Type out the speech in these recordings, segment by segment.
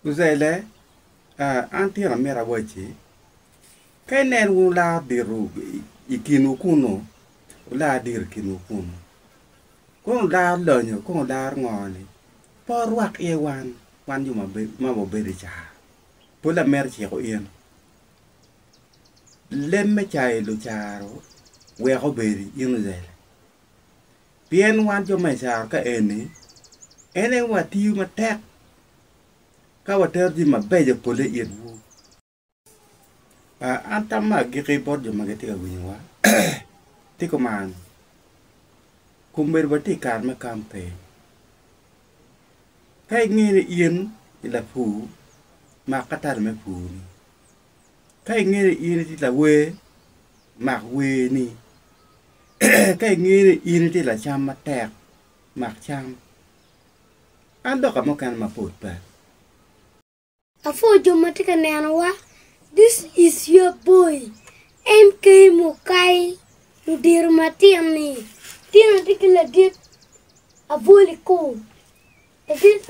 Uzaile, Aa, an tira amito awacci, ka inen wun olar dito i kinwu kunnu, wular diro i kinwu kunnu, kono wularo lonyo, kono wularo ngo-ni? Pe wurwak iye wan, wan jo ma wabedo i car. Pol amito ciko in, leb me cayo lucaro wek obedi in Uzaile. Pien wan jo ma i caro ka eni, en aye watiyo matek ka watero jami mabeco polle itwu. An tamma agikki bot jo ma gitye ka winyowa ti kuman, kun bedo watye i kare me kampen. Ka ingeyo ni in i lapur, mak ka tala me purni. Ka ingeyo ni in itye lawer, mak werni. Ka ingeyo ni in itye lacam matek, mak cam. An dok ka mukene mapol pe. Apwoo jo ma tye ka neno wa this is your boy MK mukai ludito matin ni tino tye ki ladit abwoli koo ladit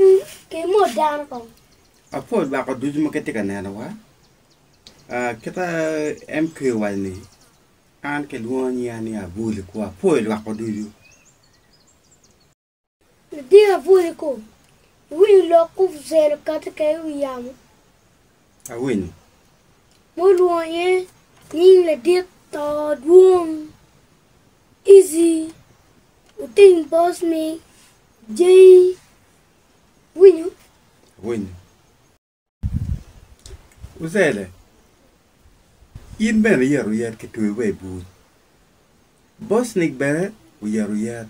kimo dano kong. Apwoo jwako ducu ma gitye ka neno wa uh, kita MK owaco ni. An kilwongo nyinga ni Abuli ku apwoyo lwakko ducu. Luting Abuli ku iwiny lok ku bucelo kadi ka i wi yamo. Awinyo. Mo olwongo iye nying ladit to dwong, Izzy, luting Boss ni Jay. Awinyo. Awinyo. Ocele, in bene iyero oyet kitweyi wa i bur. Bocnik bene oyero oyet.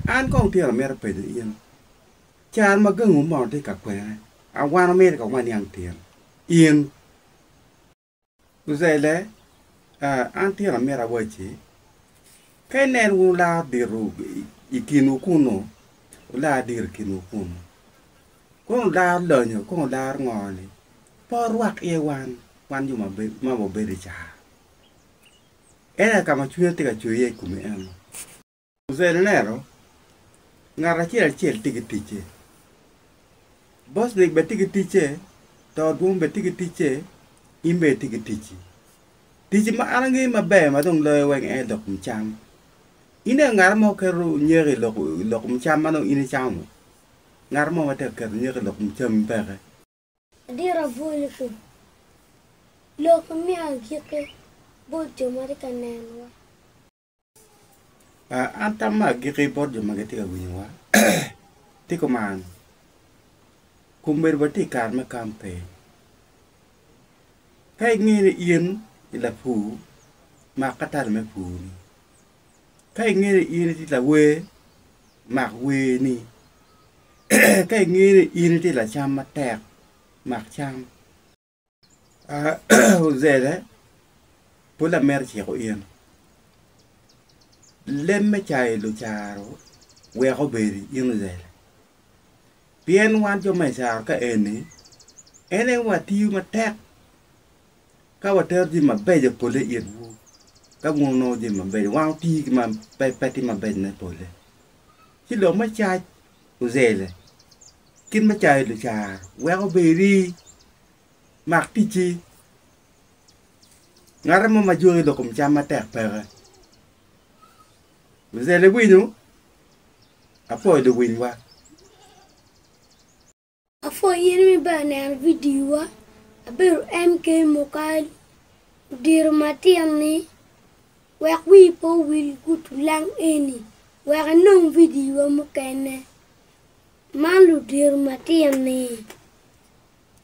An kong tye amito penyo in, caro ma gangi wumono tye ka kwene, awano meri ka waniang tyen? In. Uzaile, Aa, an tyen amito awacci, ka inen wun olaro diro i kinwu kunnu, wular diro i kinwu kunnu, kong wularo lonyo, kong wularo ngo-ni, pe wurwak iye wan, wan jo ma wabedo i car. En aye ka ma cwinya tye ka cwer iye i komi eno. Jose ne neno ngat acel acel tye ki ticce. Bosnick bene tye ki ticce, Too Dwong bene tye ki ticce, in bene itye ki ticci. Ticci ma an angeyo maber ma dong loyo weng en aye lok kom cam. Ineno ngat mo keto nyeko i lok i lok kom cam ma dong in icamo? Ngat mo ma tek keto nyeko i lok kom cami peke. Ladit abwolgi, Lok imiyo agikki bot jo ma tye ka nenowa. An tam ma agikki bot jo ma gitye ka winyowa tye kuman, Komedi watye i kare me kampain. Ka inge ni in i lapur, mak ka tal me purni. Ka inge ni in itye lawer, mak werni. Ka inge ni in itye lacam matek, mak cam. Ozele, pol amito ciko in, leb me cayo lucaro weko obedi in ozele, pien wan jo me icaro ka eni en aye watiyo matek ka watero jami mabeco pole i itwu ka wun wunongo jami mabeco, wan watiyo ki ma pe tye mabeco me pole ci lok me cac. ozele. Kit ma cayo lucaro weko be iri, mak ticci. Ngate mo ma joni dok kom cam matek peke. Ozele winyo? Apwoyo dong winywa. Apwoyo in me ber neno video wa abedo MK mokalo odiro matin ni wek wii pe owil gutu lang eni wek inong video wa mukene man ludiro matin ni.